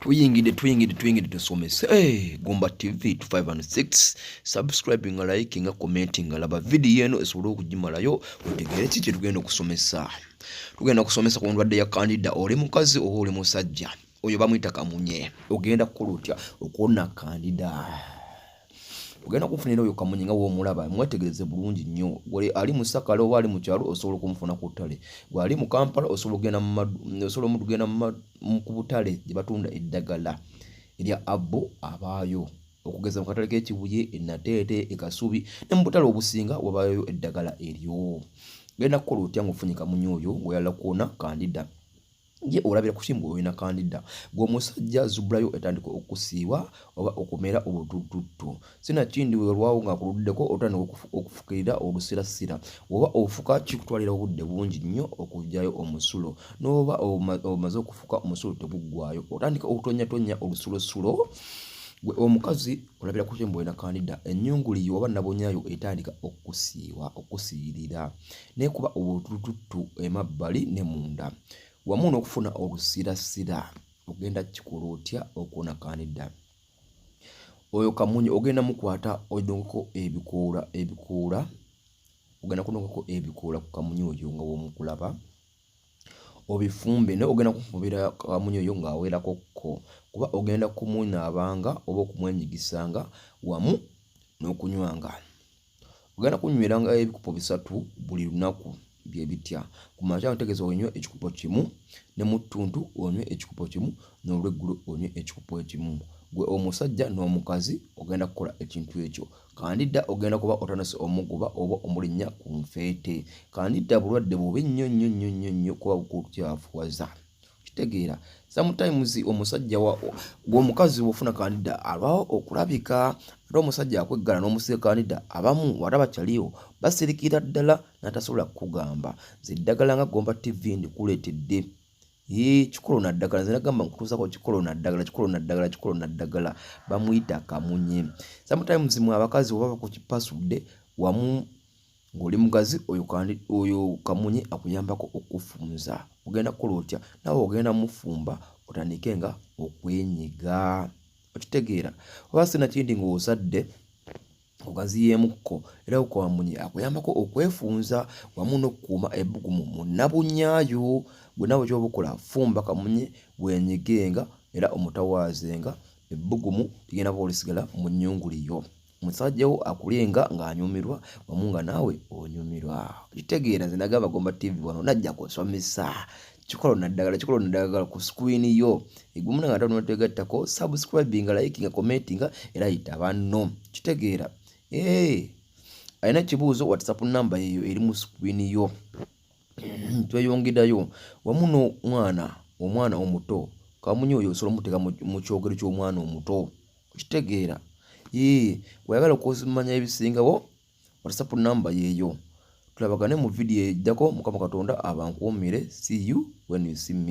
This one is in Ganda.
tuyingidde tuyingidde tuyingidde tusomese eh, gomba tv 506 subscribing nga like nga commenting nga laba vidiyo eno esobole okugimalayo otegeere ki kyetugenda okusomesa tugenda kusomesa ku ndwadde ya kandida oli mukazi oba oli musajja oyo bamuyita kamunye ogenda kukola otya okuwona kandida ogenda kufunira oyo kamunye nga womulaba mwetegereze bulungi nnyo gwe ali mu sakala oba ali mu kyalo osobola okumufuna ku ttale gwe ali mu kampala osobola okugenda osobola omuntu genda ku butale gye batunda eddagala erya abbo abaayo okugeza mu katale k'ekibuye enateete ekasubi ne mu butale obusinga wabayo eddagala eryo genda kukola otya ngaofunye kamunye oyo weyala kwona kandida ye olabira kuki mbu olina kandida gwe omusajja zubulayo etandika okusiiwa oba okumera obutututtu sinakindi weolwawo nga kuluddeko otandika okufukirira olusirasira woba ofuka kikutwalira obudde bungi nnyo okugyayo omusulo noba omaze okufuka omusulo teguggwayo otandika okutonyatonya olusulosulo gwe omukazi olabira kuki mbu olina kandida enyunguliyo oba nabonyayo etandika okusiiwa okusiirira n'ekuba obutulututtu emabbali ne munda wamu n'okufuna olusirasira ogenda kukikola otya okwonakanidda oyo kamunye ogenda mukwata odongeko ebikoola ebikoola ogenda kunongako ebikoola ku kamunye oyo nga womukulaba obifumbe naye ogenda kufumubira kamunye oyo ng'awerako ko kuba ogenda kumunaabanga oba okumwenyigisanga wamu n'okunywanga ogenda kunyweranga ebikupo bisatu buli lunaku bye bitya ku makya otegeeza onywe ekikupo kimu ne mu ttuntu onywe ekikupo kimu n'olweggulo onywe ekikupo ekimu gwe omusajja n'omukazi ogenda kukola ekintu ekyo kandida ogenda kuba otanase omuguba oba omulinnya ku nfeete kandida bulwadde bubi nnyo nnyo nnyo nnyo nnyo kuba bukukyafuwaza kitegeera sometimes omusajja gwomukazi wofuna kandida alwawo okulabika ate omusajja akweggala n'omusiga kandida abamu wata bakyaliwo basirikira ddala natasobola kukugamba nze eddagala nga gomba tv ndikuleetedde kikolo naddagala nze nagamba nkutuusako kikolo naddagala kikolo naddagala kikolo naddagala bamuyita kamunye sometimes mwe abakazi oba bakukipasudde wamu ng'oli mugazi oyo oyo kamunye akuyambako okufunza ogenda kukola otya nawe ogenda mufumba otandike nga okwenyiga okitegeera oba sina kindi ng'ozadde ogaziyeemukko era okamunye akuyambako okwefunza wamu n'okukuuma ebbugumu mu nnabunyaayo gwe nawe kyoba okola fumba kamunye wenyigenga era omutawaazenga ebbugumu ligenda kuba olisigala mu nnyunguli yo musajja wo akulenga ng'anyumirwa wamu nga naawe onyumirwa kitegeera nze nagamba gomba tv wano najja kusomesa kikola naddagala kikola naddagala ku screen yo egumu nanga ate onotegattako subscribing liking commenting era yita banno kitegeera ee alina ekibuuzo whatsapp namba yeyo eri mu screen yo tweyongedayo wamu n'omwana omwana omuto kamunyi oyo osobola omuteka mu kyogero ky'omwana omuto okitegeera ee weyagala okumanya ebisingawo whatsapp namba yeeyo tulabagane mu vidiyo eddako mukama katonda abankuumire see you when you see me